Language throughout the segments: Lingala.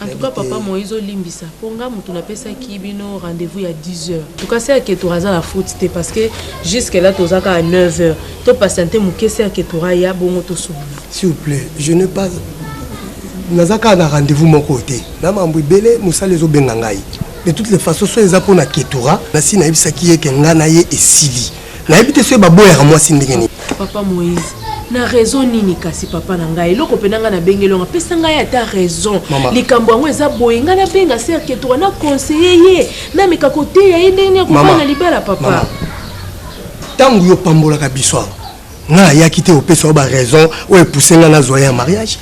En tout cas papa Moïse olimbisa po nga mutu napesaki bino rendez-vous ya 10 heures. En tout cas c'est Aketura aza na faute te parce que jusque là toza kaka 9 heures. To patienter muke c'est Aketura ya bongo to solola. S'il vous plaît, je n'ai pas naza kaka na rendez-vous moko te. Na mambo ebele musala ezo benga ngai. De toutes les façons so eza pona Ketura, nasi nayebisaki ye ke nga na ye esili. nayebi te soki baboyaka mwasi ndenge nini papa moïse na raison nini kasi papa na ngai eloko mpe na ngai nabengeli yango apesa ngai ata raison likambo yango eza boye ngai nabenga serke toa na conseille ye nameka koteya ye ndenge nini akobana libala papa ntango yo opambolaka biso awa ngai ayaki te opesa yo baraison oyo epuse ngai nazwa ye ya mariage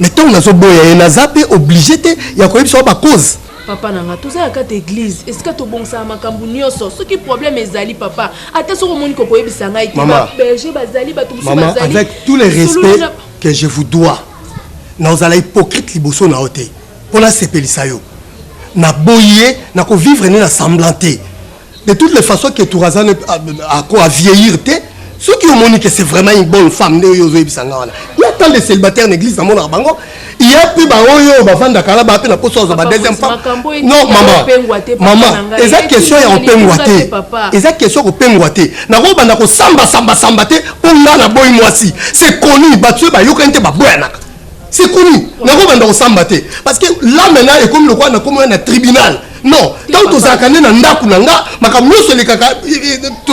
mais ntango nazoboya ye naza mpe oblige te ya koyebisa yo bacause papa na nga toza ya kati eglise esika tobongisaka makambo nyonso soki problème ezali papa ata soki omoni kokoyebisa ngai te baberger bazali bato mosusu bazali avec tous les respects que je vous dois na ozala hypocrite liboso na yo te mpo nasepelisa yo naboyi ye nakovivre nde na semblant te de toutes les façons que turazane ako a vieillir te soki omoni que c'est vraiment une bonne femme nde oyo ozoyebisa nga wana ya tant de célibataire na église namonaka bango ya mpe baoyo bavandaka na baa mpe na poso azwa ba deuxième femme non mama mama eza question ya kopengwa te eza question ya kopengwa te nakobanda kosambasambasamba te mpo nga naboyi mwasi c'est connu bato oyo bayokani te baboyanaka c'est connu nakobanda kosamba te parce que là maintenant ekomi lokola nakomoya na tribunal non ntango tozalaka nde na ndako na nga makambo nyonso elekaka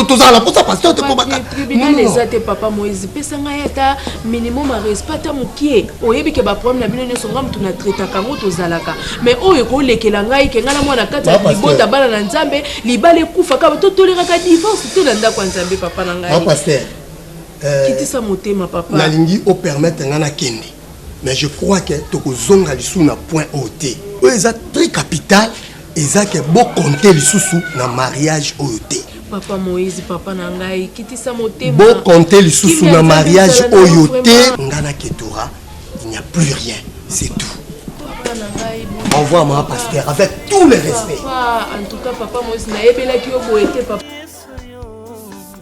tozala na mposa pasteur te mpo bakatribunal eza te papa moïse pesa ngai ata minimum ya respect ata mokie oyebi ke baproblème na bino nyonso nga motu na traitaka yango tozalaka mais oyo ekolekela ngai ke ngai na mwana kati ya libota bana na nzambe libala ekufa kaka totoleraka divorce te na ndako ya nzambe papa na ngai Euh, kitisa motema papa nalingi opermettre ngai nakende mais je crois ke tokozonga lisusu na point oyo te oyo eza très capital eza ke bokonte lisusu na mariage oyo te papa moïse papa na ngai kitisa motema bokonte lisusu na mariage oyo te ngai na ketora il n'y a plus rien c'est tout au revoir ma pasteur avec tout le respect papa, en tout cas papa moïse nayebelaki yo boye te papa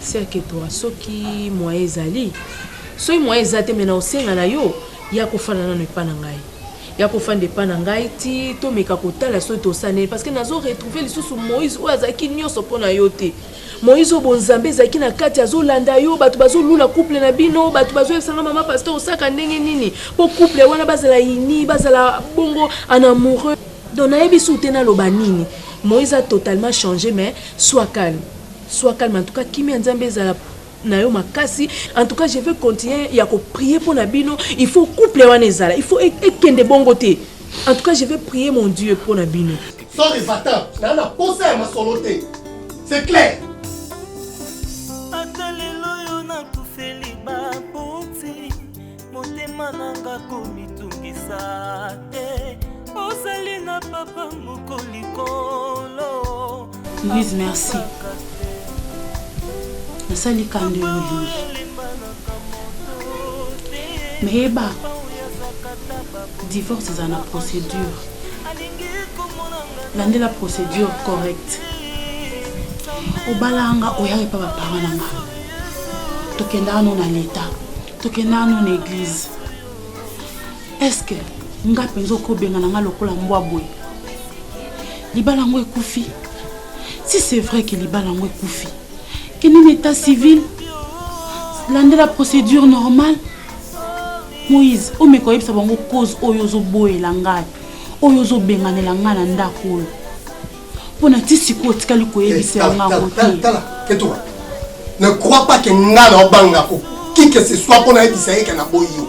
Cercle toi soki moyen ezali soki moyen eza te me na osenga na yo ya kofanda nano epa na ngai ya kofanda epa na ngai ti tomeka kotala soki tosala nini parce que nazo retrouve lisusu moïse oyo azalaki nyonso mpo na yo te moïse oyo bonzambe ezalaki na kati azolanda yo bato bazolula couple na bino bato bazoyebisanga mama pasteur osaka ndenge nini mpo couple wana bazala ini bazala bongo en amoureux donc nayebi su te naloba nini moïse a totalement changé mais soit calme Soit calme en tout cas kimia ya nzambe ezala nayo makasi en tout cas je veux continuer ya ko prier mpo na bino il faut couple wana ezala il faut e, ekende bongo te en tout cas je vais prier mon dieu mpo na bino sorry vatan naa na posa ya masolo te c'est clair motema nanga komitungisa te ozali na papa moko likolo louise merci nasali kando ya olingi meyeba divorce eza na procédure landela procédure correcte obalanga oyaka epa baparent na nga tokendaka no na leta toke nanu na eglize eske nga mpenza okobengana nga lokola mbwa boye libala yango ekufi si c'est vrai ke libala yango ekufi kende na état civil landela procédure normale moïse omeka oyebisa bango cause oyo ozoboyela ngai oyo ozobenganela ngai na ndako oyo mpo na ti sikoyo otikali koyebisa eh, yanga yango te ne crois pas ke nga na obanga ko qui que ce soit mpo nayebisa ye ke naboyi yo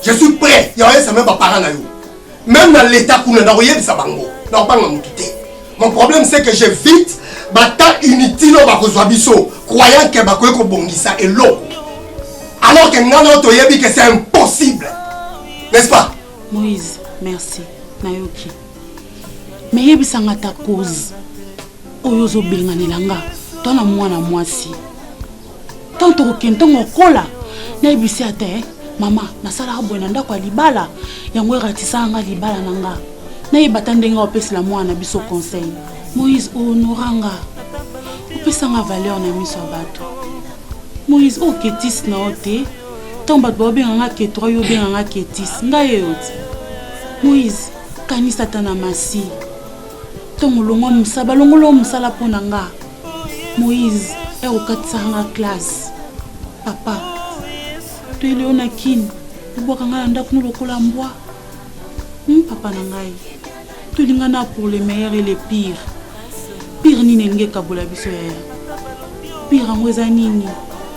je suis prêt ya oyebisa meme baparent na yo meme na leta kuna na koyebisa bango na kobanga motu te mon problème c'est que j'évite batemps inutile oyo bakozwa biso croyant ke bakoki kobongisa eloko alors ke nga na yo toyebi ke c'est impossible n'est-ce pas Moïse, merci. Nayoki. Mais yebisanga ta cause. Oyo ozobenganela nga to na mwana mwasi. Tant tokokende ntango okola nayebisi ata eh, mama nasalaka boye na ndako ya libala yango eratisaka nga libala na nga nayeba ata ndenge opesela mwana na biso conseil moïse ohonora nga opesanga valeur na miso ya bato moïse oketis na yo te ntango bato baobenga nga ketura yo obenga nga ketis ngai eyo ti moïse kanisa ata na masi ntongo olongwa mosala balongoloo mosala mpo na nga moïse ere okatisaka nga classe papa toyeli yo na kini obwaka ngai na ndako no lokola mbwa hmm, papa na ngai tolingana pour le meilleur et le pire pire nini elingi ekabola biso yaya pire yango eza nini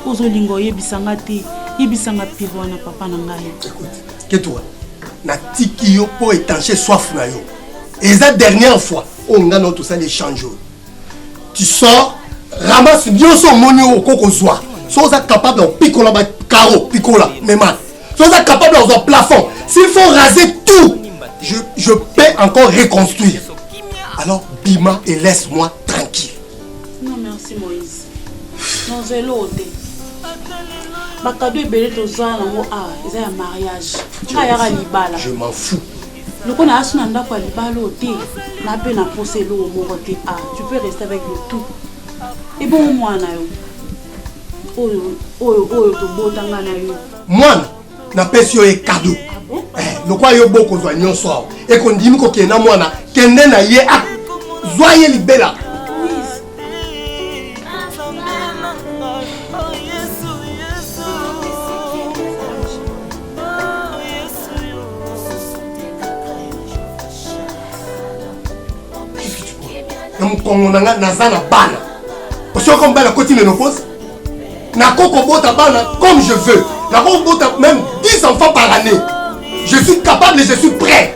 ozolinga oyebisa nga te yebisa nga pire wana papa na ngai ketua natiki yo mpo etanche soif na yo eza dernière fois oyo ngai nao tosali échange oyo tu sors ramasse nyonso omoni oyo okoki kozwa so oza capable ya kopikola bacaro pikola mema soki oza capable ya kozwa plafond s'il faut raser tout je, je peux encore reconstruire alors bima et laisse moi tranquille non merci moïse nozela oyo te bakado ebele toza nango a ah, eza ya mariage nga yaka libala je m'en fous loko na asu na ndako ya libala oyo te na mpe na mposa eloko moko te a ah, tu peux rester avec le tout ebongo mwana yo mwana napesi yo ye kado ah eh, lokola yo bokozwa nyonso awa ekondimi kokende na mwana kende na ye a ah, zwa ye libela na mokongo na ngai naza na bana osoko mobali akoti menopause nakoki kobota bana comme je veux nakoki kobota même 10 enfants par année je suis capable et je suis prêt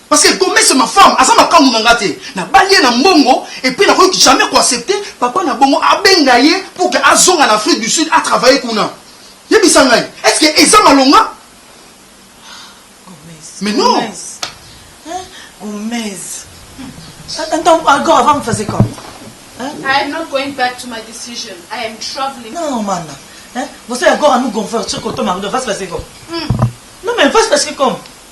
Parce que Gomez c'est ma femme, aza makangu na nga te. Nabali ye na mbongo et puis nakoki jamais ko accepter papa na bongo abenga ye pour que azonga na Afrique du Sud a travailler kuna. Yebisa ngai, est-ce que eza malonga? Mais non. Gomez. Attends, encore avant me faisait comment? I am not going back to my decision. I am traveling. Non, mana. Hein? Você agora no gonfort, você contou uma coisa, faz fazer como? Não, mas faz fazer como?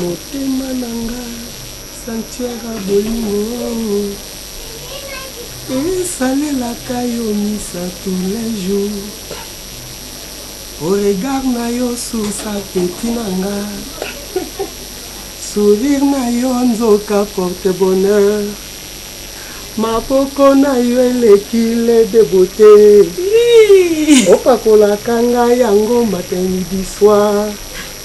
Motema na nga sanctuaire ya bolingo oh, esalelaka yo misa tous les jours oh, regard na yo source appetit na nga sourire na yo nzoka porte bonheur maboko na yo eleki le de beauté opakolaka nga yango matin midi soir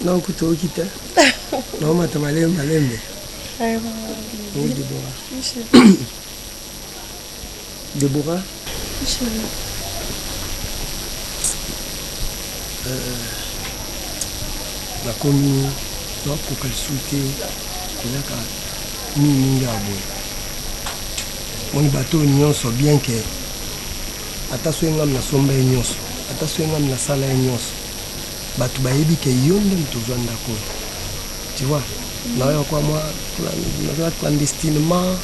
Non kutu okita. Non mata malembe malembe. Oh Deborah. Deborah. Euh, nakomi nakoka lisusu te kolaka mingi mingi ya boye moni bato oyo nyonso bien ke ata soki ngami nasomba ye nyonso ata soki ngami nasala ye nyonso batu bayebi ke yo nde moto ozwa ndako oyo tu vois mm. nayo kwa mwa nazala clandestinement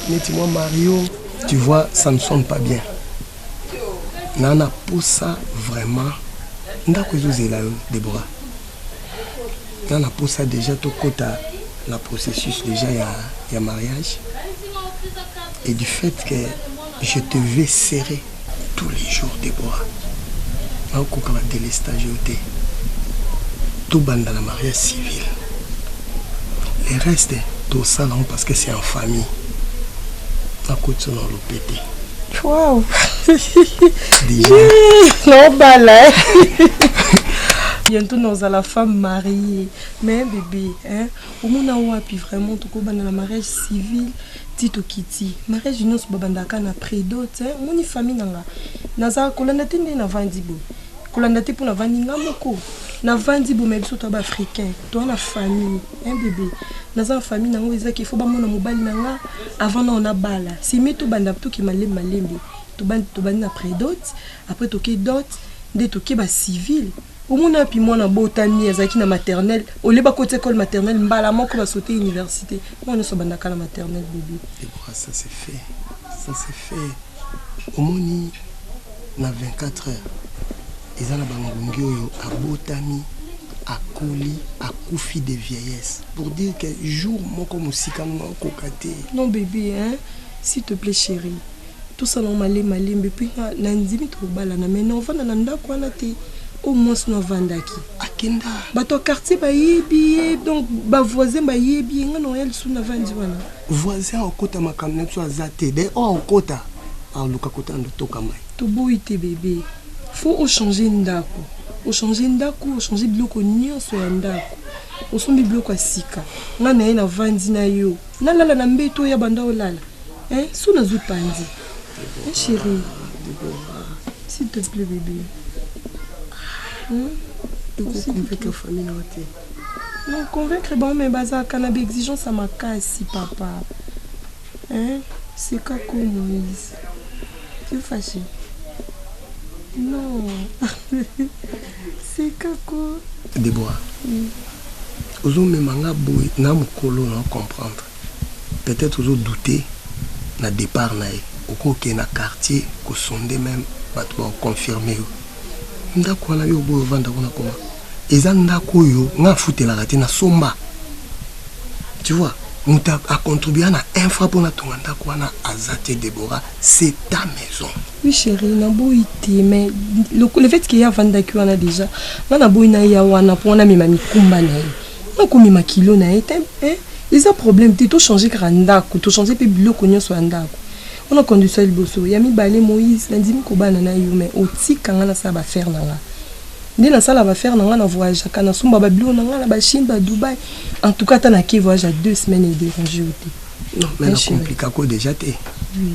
neti mwa mario tu vois ça ne sonne pas bien na na posa vraiment ndako ezozela yo debora na na posa déjà tokɔta na processus déjà ya, ya mariage et du fait que je te vais serrer Tous les jours Deborah. Nakokoka na délestage yo te. Tobanda na mariage civil. Le reste tosala yango parce que c'est en famille. Nakoti na lopete. Wow. Déjà. Nobala. bientôt nous la femme mariée mais bébé hein omona wapi vraiment tokobanda na mariage civil ti tokiti mariage nionso babandaka kaka na prix dot hein omoni famille nanga naza kolanda te nde navandi boye kolanda te po navandi nga moko navandi boye mais biso toza ba africain toza na famille hein bebe naza na famille nango eza ke faut bamona mobali nanga avant nao nabala c'est mieux tobanda toke malembe malembe tobandi tobandi na prix dot après toke dot nde toke ba civile Omona wapi mwana abotami azalaki na maternelle au lieu bakoti école maternelle mbala moko ba sauter université mwana nyonso abandaka na maternelle bebe Deborah, ça c'est fait. Ça c'est fait. Omoni na 24 heures eza na bangungi oyo abotami akoli akufi de vieillesse pour dire que jour moko mosika ngo akoka te non bebe hein s'il te plaît chérie Tosala ngo malembe malembe epuis nga na ndimi tokobalana mais na ovanda na ndako wana te oyo mwasi no avandaki akenda bato ya quartier bayebi ye donc ba voisin bayebi ye nga na oya lisusu na vandi wana voisin akokota makambo na biso aza te de oyo akokota aluka kota ndo toka mai toboyi te bebe faut ochange ndako ochange ndako ochange biloko nyonso ya ndako osombi biloko ya sika nga na ye na vandi na yo nalala na mbeto oya banda olala Hein, soki nazwi panzi. Hein, chérie. S'il te plaît, bébé. Hein? Convaincre famille na te. Non, convaincre bango mais bazalaka na baexigence ya makasi papa. Hein? C'est quoi comme Moïse? Tu es fâché? Non. C'est Kako. Déborah. Mm. ozomema nga boye na mokolo na comprendre Peut-etre ozo douter na depart na ye. Okoki okende na quartier ko sonder meme batu bako confirmer yo. Ndaku wana yo oboyi ovanda kuna comment? Eza ndaku oyo nga nafutelaka te, na somba. Tu vois? Mutu a contribua na un franc po na tonga ndaku wana aza te Deborah, c'est ta maison. Oui cherie, na boyi te mais le fait que ye avandaki wana dejà nga na boyi na ya wana po na mema mikumba na ye. Oyo komema kilo na ye te eh, eza problème te, to changer kaka ndako, to changer pe biloko nionso ya ndako. Wana condition ya liboso. Ya mibale Moïse, na ndimi kobana na yo mais otika nga nasala ba affaires na nga. Nde nasala ba affaires na nga, na voyageaka, na somba ba biloko na nga na ba Chine, ba Dubaï. En tout cas ata nake voyage ya deux semaines e deranger yo te. Non, mais na compliquer ko dejà te. Oui.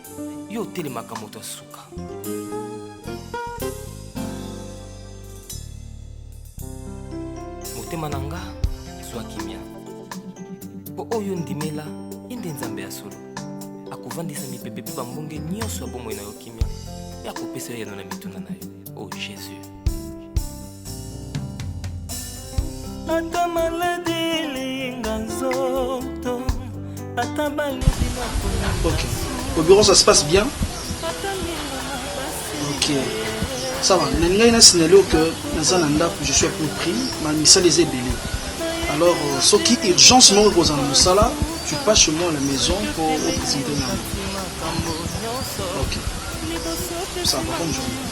yo otelemaka moto ya suka motema na nga zwa kimia mpo oyo ndimela ye nde nzambe ya solo akovandisa mipepe mpe bambonge nyonso ya bomoi na yo kimia mpe akopesa yo yano na mituna na yo o oh, jesus ata maladi elinga nzoto ata balobi na pona Ok. Au bureau, ça se passe bien Ok. Ça va. Nalingaki na signaler que naza na ndako, je suis à peu près, ma misala eza ebele. Alors, euh, soki urgence moko ekozala na mosala, tu passes chez moi à la maison pour représenter ngai. Ok. Ça va, bonne journée.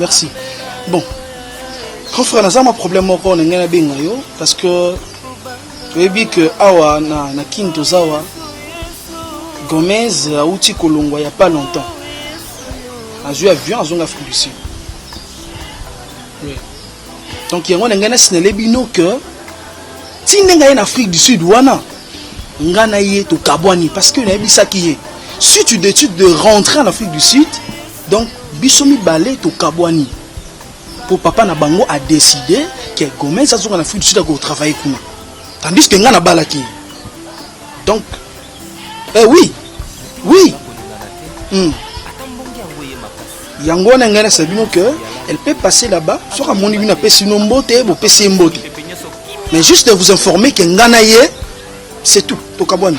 merci bon grand frère naza mwa problème moko na ngai nabenga yo parce que toyebi ke awa na, na kin toza awa gomez auti kolongwa ya pas longtemps azwi avion azonga afrique du sud oui. donc yango na ngai nasinale bino ke ti ndenge aye na afrique du sud wana ngai na ye tokabwani parce que nayebisaki ye si tu détude de rentrer en afrique du sud Donc biso mibale tokabwani po papa na bango a décidé que Gomez azonga na Afrique du Sud ako travailler kuna, tandis que nga nabalaki donc eh oui oui hmm. yango wana ngai nasa bino que elle peut passer là-bas soki amoni bino apesi bino mbote bopesi ye mbote mais juste de vous informer que nga na ye c'est tout tokabwani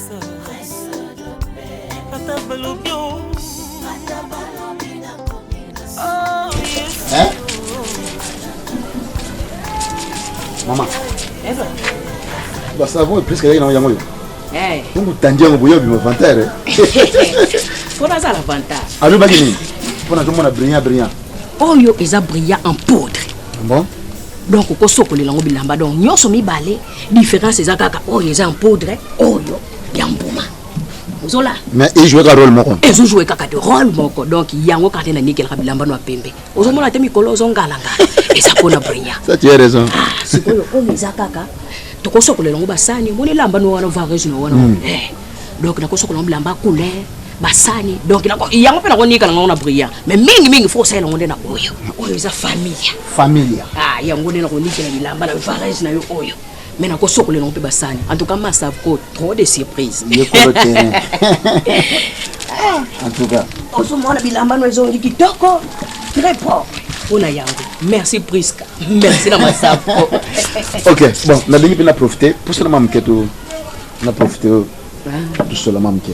mama basavon epreske yaki nango yango yo bongo tandi yango boye obima vantere mpo nazala vantar alobaki nini mpo nazomona brillant brillant oyo eza brillant en poudre bon donc okosokolela yango bilamba donc nyonso mibale Différence eza kaka oyo eza en poudre oyo ya mbuma. Ozola. Mais il joue ka rôle moko. Et je joue kaka de rôle moko. Donc yango kaka na nickel ka bilamba no pembe. Ozomona te mikolo ozongala nga. Eza pona brinya. Ça tu as raison. Ah, sikoyo oyo eza kaka tokosokolela yango basani omoni elamba no wana vareuse no wana hmm. eh, donc nakosokola yango bilamba couleur basani donc yango mpe nakonika na ngango na brillant mais mingimingi fo osalela yango nde na oyo oyo eza famille familia ah yango nde nakonikela bilamba na varese na yo oyo me nakosokola yango mpe basani en tout cas masavco trop de surprise yekolo terrain en tout cas ozomona bilamba no ezongi kitoko très propre mpona yango merci prisca merci na masavco ok bon nalingi mpe na profite mposa na mamoke to na profite oyo ah. tosola mamoke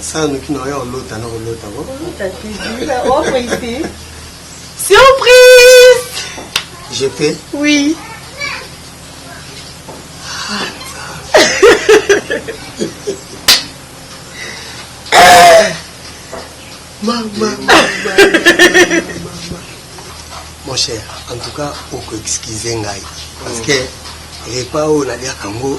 Sala noki na oya olota na kolota bo. Surprise! Je peux? Oui. Maman, maman, maman, Mon cher, en tout cas, oko excuse ngai. Parce que repas oyo naliaka yango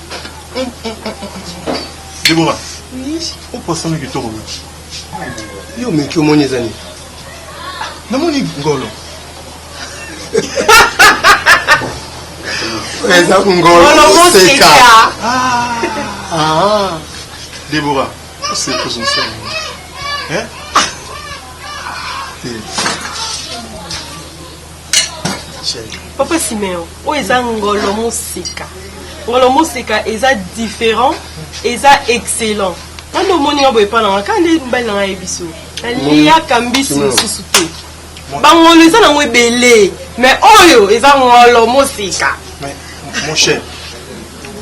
Deborah, opasami kitoko mingi. Yo meki omoni eza nini? Namoni ngolo. Eza ngolo seka. Ah. Deborah, c'est pour son sel. Hein? Ah. papa simeon oyo eza ngolo mosika ngolo mosika eza différent eza excellent wana omoni nga boye epa na nga kaka nde mobali na nga ye biso naliyaka mbisi mosusu te bangolo eza nango ebele mais oyo eza ngolo mosika mon cher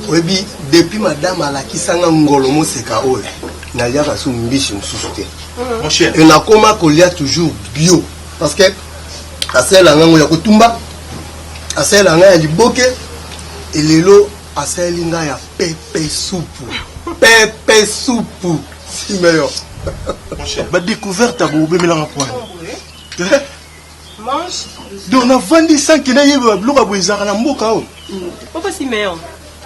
oyebi depuis madame alakisanga ngolo moseka oyo naliaka su mbisi mosusu te hmm. nakoma kolia toujours bio parce que asalela ngai yango ya kotumba asalela ngai ya liboke elelo asaleli ngai ya pepe supu pepe supu simeyo badécouverte abobemelanga pwana donc navandi sanke nayeba biloko ya boye ezalaka na mboka oyo papa simeon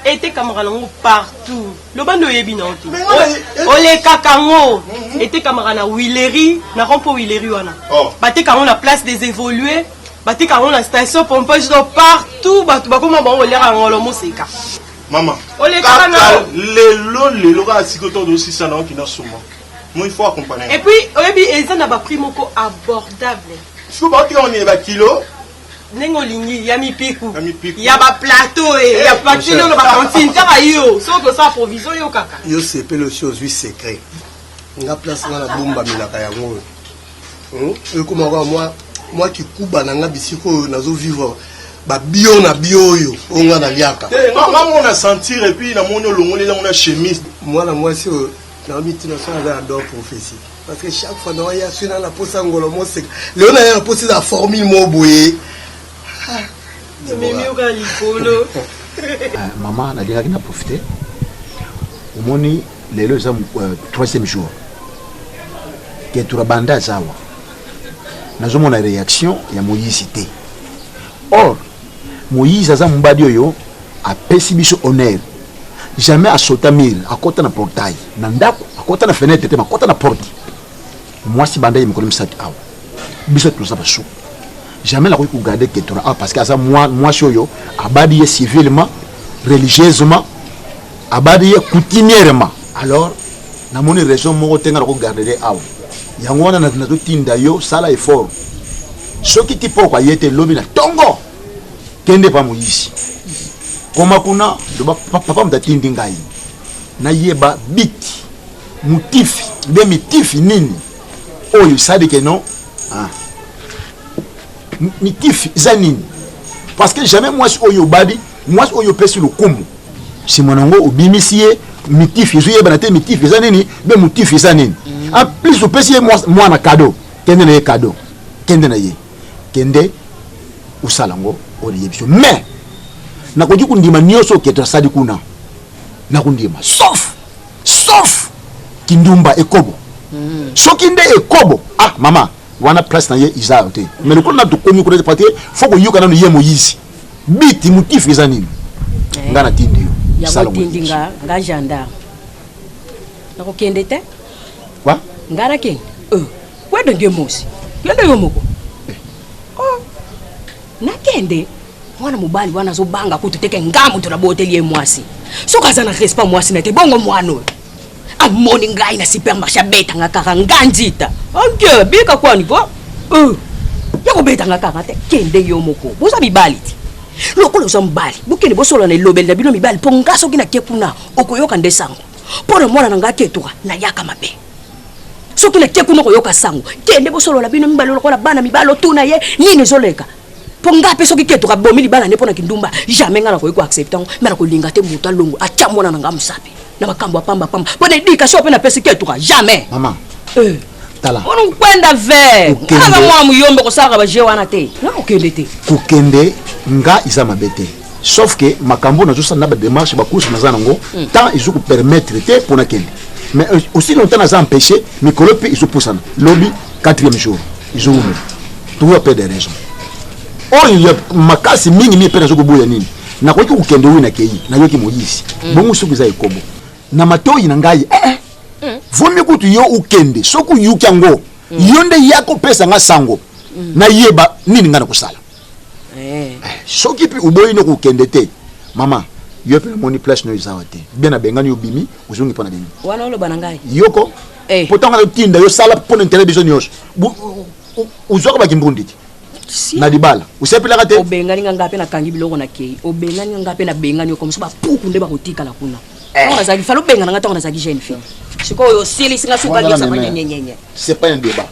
Etekamaka nango partout. Loba nde oyebi na yo te. Mais nga naye- O- Olekaka yango. Mhm. Etekamaka na Huilerie, na rond-point Huilerie wana. Oh. Bateka yango na place des évolués. Bateka yango na station pompage donc partout bato bakoma bango oliaka yango lo moseka. mama Olekaka kaka na- lelo lelo kaka siko to dosisa na oki na suma mo il faut Et accompagner puis oyebi eza na ba prix moko abordable. siko baotika oni ba kilo ndenge olingi ya mipiku ya ba plateau e eh, ya papier lolo ba cantine kaka yo soki osala provision yo kaka yo sepele osi ozwi secret nga place nga nabombamelaka yango oyo hmm? ekoma kaka mwa mwa kikuba na nga bisika oyo nazovivre babio na bio oyo oyo nga naliaka eh, nga mona sentir epuis namoni olongoli nango na chemise mwana mwasi oyo naomitina so aza ya dor prophesie parce que chaque fois nawa ya sina na posa ngolo moseka leo na ya na posa za formule mo boye mimi oka likolo ah, mama nalingaki na profite omoni lelo eza euh, troisième jour ketura banda azawa nazomona réaction ya moyisi te or Moïse aza mobali oyo apesi biso honneur jamais asota mire akota na portail na ndako akota na fenêtre te makota na porte mwasi banda ye mikolo misato awa biso toza basuku jamais nakoki kogarde ketora awa parce que aza mwasi oyo abadi ye civilement religieusement abadi ye coutumièrement alors namoni raison moko te nga nako gardere awa yango wana nazotinda yo sala effort soki kipoko aye te lobi na tongo kende pa moyisi koma kuna loba papa moto atindi ngai nayeba biti motifi nde mitifi nini oyo esalike non ah. mitifi eza nini parce que jamais mwasi oyo obadi mwasi oyo opesi lokumu sima na yango obimisi ye mitif ezo yebana te mitif eza nini be motif eza nini mm. en plus opesi ye mwana kado kende na ye kado kende na ye kende osala yango oyo nayebi biso mais nakoki kondima nyonso oketo asali kuna nakondima sauf sauf kindumba ekobo mm. soki nde ekobo ah mama wana place na ye iza te mais lokola na tokomi kuna parce que faut koyoka nanu ye moyizi biti motifu eza nini eh, nga natindi yo yango otindi nga nga gendarme nakokende te wa nga nakende euh, wende nge mosi yende yo moko eh. oh, nakende mwana mobali wana azobanga kutu teke nga moto naboteli ye mwasi soki aza na respect mwasi na te bongo mwana oyo amoni ngai na supermarché abetanga kaka nga nzita anke ah, bika kwani ko euh. ya kobetanga kaka te kende yo moko boza mibali te lokola oza mobali bokende bosolana elobeli na bino mibali mpo nga soki nake kuna okoyoka nde sango mpo na mwana na ngai aketuka nayaka mabe soki nake kuna okoyoka sango kende bosolola bino mibali lokola bana mibali otuna ye nini ezoleka mpo ngai mpe soki keto kabomi libala nde mpo na kindumba jamais ngai nakoki koaccepte yango mai nakolinga te moto alongo atya mwana na ngai mosapi na makambo ya pamba pamba mpo na edikation mpe napesi ketuka jamais mama eh. tala ona kokwenda ver aza mwana moyombe kosalaka baje wana te na kokende te kokende nga eza mabe te sauf que makambo nazosala na bademarche bacourse naza nango hmm. temps ezo kopermettre te mpo nakende mais euh, aussi longtemps naza empêché mikolo mpe ezopusana lobi quatrième jour ezowumela tokoya mpe de raison oyo ya makasi mingi mingi mpe nazo koboya nini nakoki kokende oyo nakei nayoki moyisi hmm. bongo soki eza ekobo na matoyi na ngai eh, eh. Hmm. vomi kutu yo okende soki oyuki yango yo nde ya kopesa nga sango nayeba nini ngai nakosala eh. soki mpe oboyi no kokende te mama yo mpe namoni place no ezawa te bien abengani obimi ozongi mpo na bino wana oloba na ngai yoko eh. po ntango nayotinda yo sala mpo na interet biso nyonso ozwaka bakimbundi te na libala osepelaka te obengani nga ngai mpe nakangi biloko na kei obengani nga ngai mpe nabengani yo komoso bapuku nde bakotikala kuna eh. ntango nazalaki fala obengana nga ntango nazalaki jeune fille sikoyo osilisi nga sukaniosabanyenyenyenye c'est pas un débat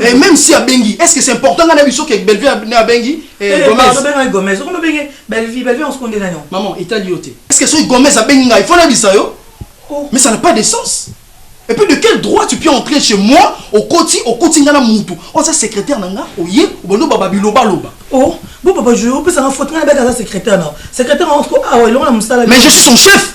Eh, même si abengi est ce que c'est important nga na biso ke bellevue na abengi eh, eh, gomezobengaki gomez okono obenge bellevue bellevue osukonde nani maman etali yo te est ce que soki gomez abengi ngai ifo nabisa yo oh. mais ça n'a pas de sens et puis de quel droit tu peux entrer chez moi okoti okoti nga na mutu oza oh, secrétaire na nga oye obondo baba bilobaloba o oh, bo papa jo opesanga faute nga nabeka aza secrétaire na secrétaire yango awa elongo na mosala mais je suis son chef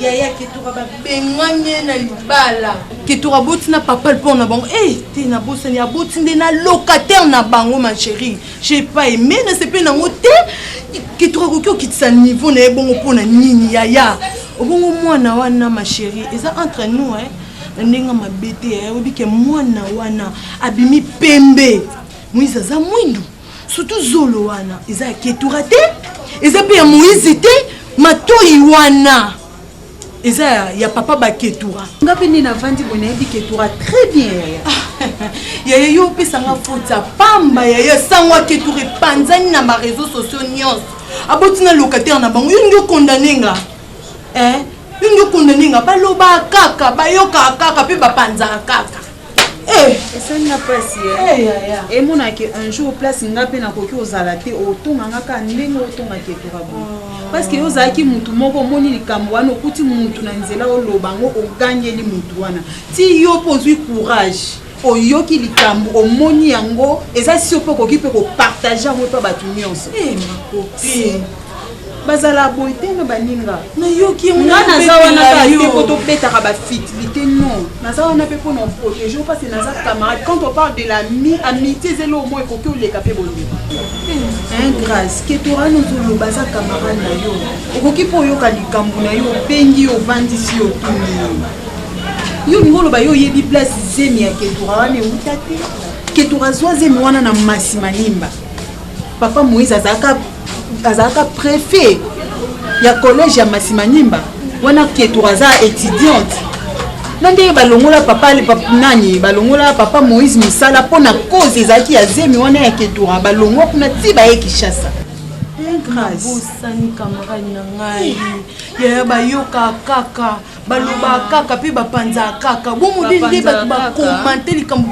yaya ketura babengani ye na libala ketura aboti na papa mpo na bango e eh, te nabosani aboti nde na locataire na bango ma chérie j'ai pas aimé nasepeli nango te ketura akoki okitisa niveau na ye bongo mpo na nini yaya obongo mwana wana ma chérie eza entre nous eh? na ndenge mabe te eh? oyebi ke mwana wana abimi pembe moise aza mwindu Surtout zolo wana eza ya ketura te, eza pe ya Moïse te, matoyi wana eza ya, ya papa ba ketura. Nga pe nde navandi boye nayebi ketura très bien yaya. yaya yo opesa nga faute ya pamba yaya sango ya ketura epanzani na ba réseaux sociaux nyonso. Aboti na locataire na bango, yo ndio condamne nga. Eh, yo ndio condamne nga, baloba kaka, bayoka kaka pe bapanzaka kaka. Eh! esali nga mpasi emonake eh, eh, un jour place nga mpe nakoki kozala te otonga nga kaka ndenge otongaki etorabo oh. parceke yo ozalaki motu moko omoni likambo wana okuti motu na nzela oloba yango ogangeli motu wana ti yo mpo ozwi courage oyoki likambo omoni yango eza sio mpe okoki mpe kopartage yango mpe bato nyonso bazala boye te na baninga nayoki nga naza wana kate po tobetaka bafitilité non naza wana mpe mpo na protege mpasi naza camarade quand on parle de la mi amitié eza eloo moi ekoki oleka mpe bondeko un grâce ketora nozoloba aza camarade na yo okoki mpo oyoka likambo na yo obengi yo ovandisi yo otuni yo yo olingi oloba yo oyebi place zemi ya ketora wana euta te ketora zwa zemi wana na masi malimba papa moïse azalaka azalaka prefet ya collège ya masimanimba wana ketura aza étudiante na ndenge balongola papa nani balongola papa moïse mosala mpo na cause ezalaki ya zemi wana ya ketura balongwa kuna ti baye kinshasa bosani kamarade na ngai yaya bayoka kaka balobaka kaka mpe bapanzaka kaka bomodeli nde bato bakomante likambo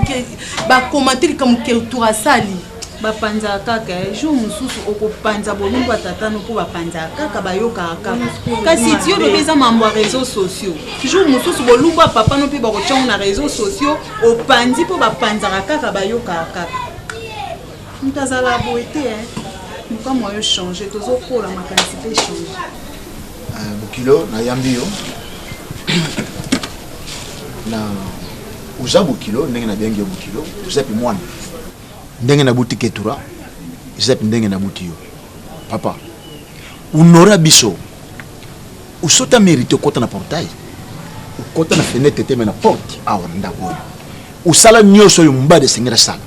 bakomante likambo ketura asali bapanzaka kaka eh, jour mosusu okopanza bolumbu ya tata no mpo bapanzaka kaka bayokaka kaka kasi tiyo lobi eza mambo ya réseau sociaux jour mosusu bolumbu ya papa no mpe bakotyango na réseau sociaux opanzi mpo bapanzaka kaka bayokaka kaka moto azala boye te eh. mokamwa yo change tozokola makanisi mpe change eh, bokilo nayambi yo na oza bokilo ndenge nabiangi yo bokilo oza mpe mwana ndenge nabuti ketura ezalaki ndenge nabuti yo papa unora biso usoki amerite okota na portail okota na fenêtre te me na porte awa na ndako oyo osala nyonso oyo mombadi esengeli asala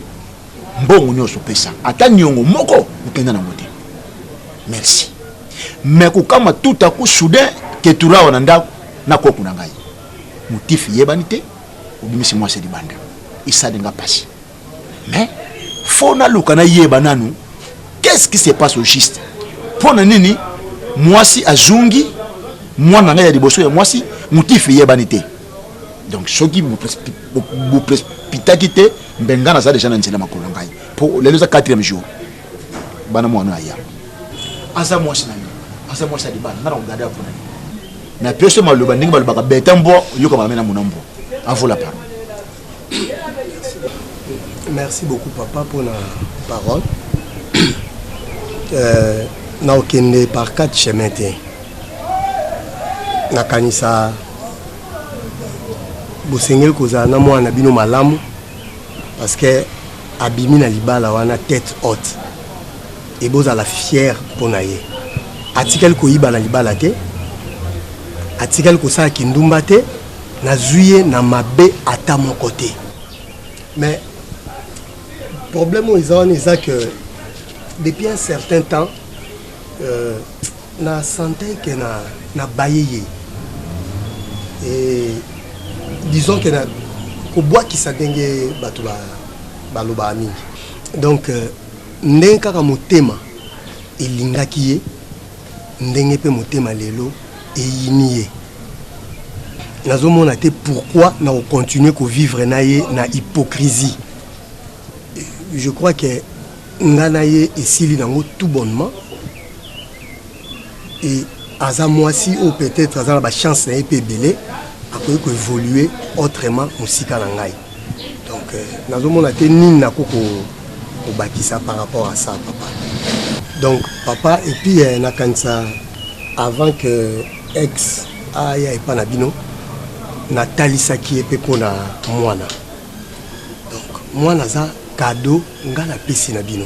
mbongo nyonso opesa ata niongo moko okenda nango te merci me kokama tout aku soudain ketura awa na ndako na koku na ngai motif eyebani te obimisi mwasi libanda esali nga mpasi mais fo naluka nayeba nanu qu'est ce qui se passe au juste mpo na nini mwasi azongi mwana ngai ya liboso ya mwasi motifu eyebani te donc soki bopitaki te mbe ngai naza deja na nzela makolo na ngai mpo lelo eza 4 jour bana mwana aya aza mwasi na yo aza mwasi ya libala nga na kogade ya mpona na pioso maloba ndenge balobaka beta mbwa oyoka malambe na mona mbwa avola paro Merci beaucoup papa pour la parole. Euh, na okende par quatre chemin te nakanisa bosengeli kozala na mwana na bino malamu parce que abimi na libala wana tête haute e bozala fière mpo na ye atikali koyiba na libala te atikali kosala kindumba te Nazui ye na mabe ata moko te. Mais problème oyo eza wana eza que depuis un certain temps euh, na sentais que na na baye ye et disons que na kobwakisa ndenge bato balobaka mingi donc euh, ndenge kaka motema elingaki ye ndenge mpe motema lelo eyini ye nazomona te pourquoi na kocontinue kovivre na ye na hypocrisie je crois que nga na ye esili nango tout bonnement et aza mwasi oyo peut-être aza na bachance na ye mpe ebele akoki koévolue autrement mosika na ngai Donc euh, nazomona te nini nako kobakisa par rapport à ça papa. Donc papa et puis euh, nakanisa avant que ex aya epa na bino natalisaki ye mpe mpo na mwana donc mwana aza kado ngai napesi na bino